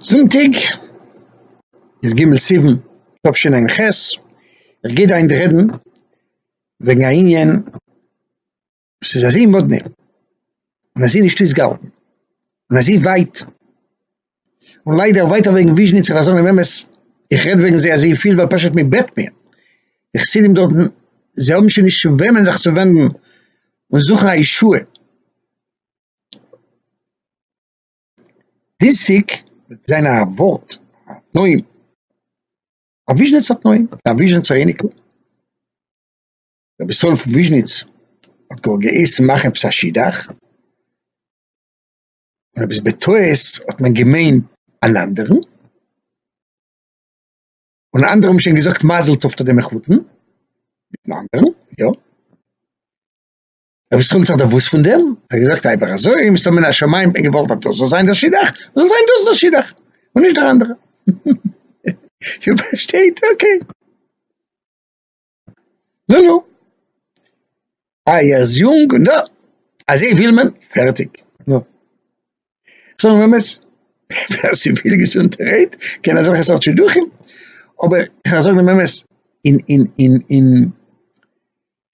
זונטאג איז ג' סיוון תשע ע ח, איך גיי דא היינט רעדן וועגן א ענין וואס איז אזוי מאדנע און אזוי נישט אויסגעהאלטן און אזוי ווייט און ליידער ווייטער וועגן וויזשניץ און חזון און אמת, איך רעד וועגן זיי אזויפיל ווייל פשוט מען בעט מיר, די חסידים דארטן זיי האבן שוין נישט צו וועמען זיך צו ווענדן און זוכן א ישועה. דיזיק וועט זיין א ווארט א תנאים א וויזשניצער תנאים א וויזשניצער אייניקל רבי ישראל פון וויזשניץ האט גאר געהייסן מאכן עפעס א שידוך און עפעס בטעות האט מען געמיינט אן אנדערן און אנדערע האבן שוין געזאגט מזל טוב צו די מחותן מיטן אנדערן יא. אויב עס חילט זיך דער וואס פון דעם, האט ער געזאגט אייוועלט אזוי, מסתמא מן השמים האט מען געוואלט אז דאס זאל זיין דער שידוך, זאל זיין דאס דער שידוך, און נישט דער אנדערע. איר פארשטייט? אקעי. נו נו. איי ער איז יונג און דא. אזוי וויל מען, פערטיג. נו. זאגן מיר אמת, ווער ס'וויל געזונט רעדט, קען אזעלכע סארט שידוכים, אבער, כ'זאג דעם אמת, אין אין אין אין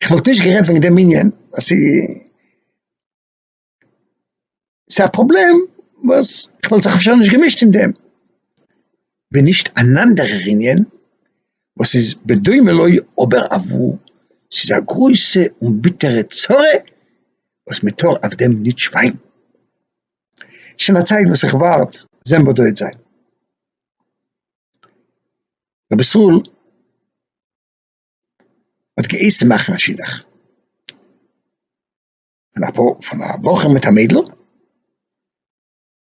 כ'וואלט נישט גערעדט וועגן דעם ענין ווייל ס'איז ס'איז א פראבלעם וואס כ'וואלט זיך אפשר נישט געמישט אין דעם, ווען נישט אן אנדערער ענין וואס איז בדומה לו אבער אוואו ס'איז א גרויסע און ביטערע צרה וואס מ'טאר אויף דעם נישט שווייגן. שוין א צייט וואס איך ווארט זען וואס דא העט זיין. רבי ישראל. האט געהייסן מאכן א שידוך פון א פאר, פון א בחור מיט א מיידל,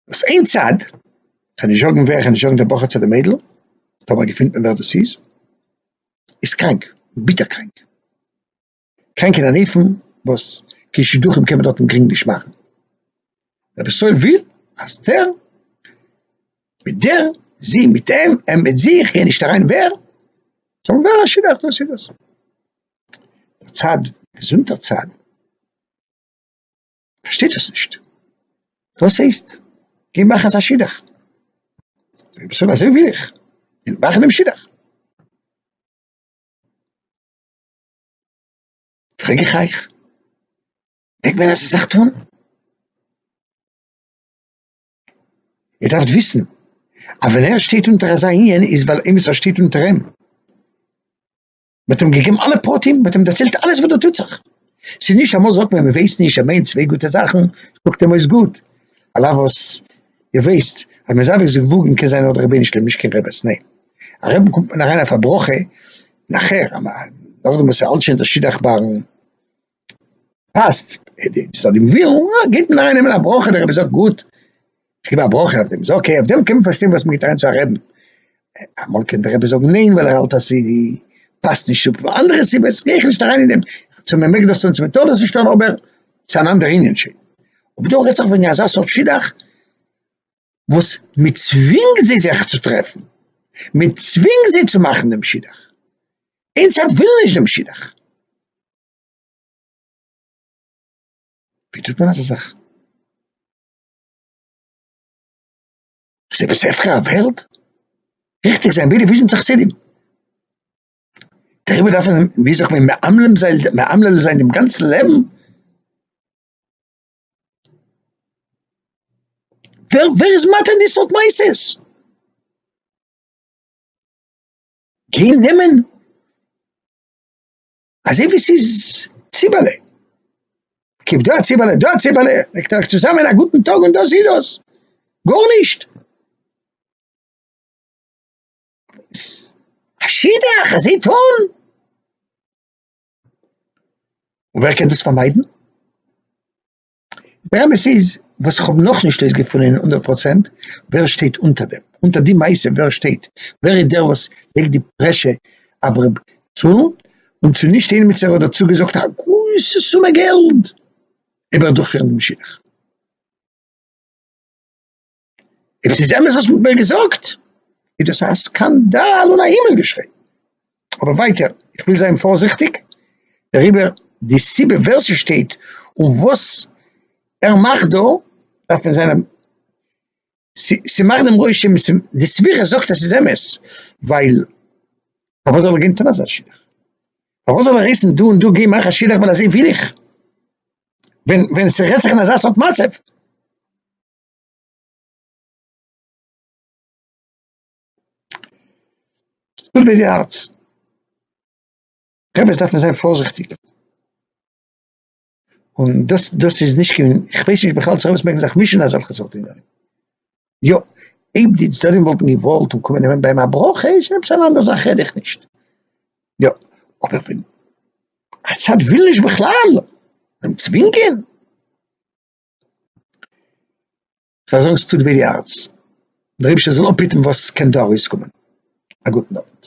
וואס איין צד, כ'על נישט זאגן ווער, כ'על נישט זאגן די בחור צו די מיידל, טאמער געפינט מען ווער דאס איז, איז קראנק, ביטער קראנק, קראנק אין אן אופן וואס קיין שידוכים קען מען דארטן גרינג נישט מאכן. רבי ישראל וויל אז דער מיט דער, זי מיט אים, אים מיט זי, איך גיי נישט אריין ווער, זאלן ווערן א שידוך, דאס איז דאס. דער צד, געזונטער צד, פארשטייט דאס נישט, וואס הייסט גיי מאך אזא שידוך? זאגט רבי ישראל אזוי וויל איך, גיי מאכן דעם שידוך. פרעג איך אייך. מעג מען אזא זאך טון? איר דארפט וויסן אז ווען ער שטייט אונטער אזא ענין איז ווייל עימיצער שטייט אונטער אים, מען האט אים געגעבן אלע פרטים, מען האט אים דערציילט אלעס וואס דא טוט זיך, ס'איז נישט אמאל זאגט מען מען ווייסט נישט ער מיינט צוויי גוטע זאכן, קוקט אים אויס גוט, על אף וואס איר ווייסט אז מען איז אייביג זיך וואגן קען זיין נאר די רבנו שלים'נישט קיין רעבעס, ניין א רעבע קומט מען אריין אויף א ברכה נאכער, נאכדעם וואס ער האלט שוין דאס שידוך בארן פאסט צו דעם ווילן, אה, געבט מען איינעמען א ברכה, דער רבי זאגט גוט, איך גיב א ברכה אויף דעם, איז אקעי, אויף דעם קען מען פארשטיין וואס מען גיבט אריין צו א רעבין, אמאל קען דער רבי זאגן ניין ווייל ער האלט אז ס'פאסט נישט צו אנדערע סיבות, גיי איך נישט אריין אין דעם, צו מען מעג דאס טון צו מען טאר דאס נישט טון, אבער ס'איז אן אנדער ענין שוין, אבער דא רעדט זיך וועגן אזא סארט שידוך וואס מען צווינגט זיי זיך צו טרעפן, מען צווינגט זיי צו מאכן דעם שידוך, איינס האלב וויל נישט דעם שידוך. ווי טוט מען אזא זאך? איז עפעס הפקר א וועלט? ריכטיג זיין בידי וויזשניצע חסידים. דעריבער דארף מען ווי זאגט מען מאמלל זיין דעם גאנצן לעבן. ווער ווער איז מתיר די סארט מעשות? גיין נעמען. אזוי ווי ס'איז ציבעלע, כב דא א ציבעלע, דא א ציבעלע, מעגט איר עך צוזאמען א גוטן טאג און דאס איז דאס, גארנישט. א שידוך אזוי טון? און ווער קען דאס פארמיידן? דער אמת איז וואס איך האב נאך נישט אויסגעפונען הונדערט פראצענט, ווער שטייט אונטער דעם, אונטער די מעשה ווער שטייט, ווער איז דער וואס לייגט די פרעשור אויף ר' צאנז, און צו נישט איינמיצער האט דערצו געזאגט א גרויסע סומע געלד איבער דורכפירן דעם שידוך. אויב עס איז אמת וואס מען האט מיר געזאגט, איז דאס א סקאנדאל און א הימל געשריי. אבער ווייטער, איך וויל זיין פארזיכטיג דעריבער, די סיבה ווער ס'שטייט און וואס ער מאכט דא, דארף מען זיין א, ס'מאכט דעם רושם, די סברה זאגט אז ס'איז אמת, ווייל פארוואס זאל ער גיין טון אזא שידוך? פארוואס זאל ער הייסן דא און דא גיי מאך א שידוך ווייל אזוי וויל איך? ווען ווען ס'רעדט זיך אין אזא סארט מצב. אדער ווי די הארץ, באמת דארף מען זיין פארזיכטיג, און דאס דאס איז נישט קיין, איך ווייס נישט בכלל צו ערענסט מעגן זיך מישן אין אזעלכע סארט ענינים, יא אויב די צדדים וואלטן געוואלט און קומען נעמען ביים א ברכה איז שוין עפעס אן אנדער זאך רעד איך נישט, יא אבער ווען א צד וויל נישט בכלל, אים צווינגען. זיי זאגן ס'טוט וויי די הארץ, דער אייבערשטער זאל אפהיטן וואס קען דא ארויסקומען, א גוטן אווענט.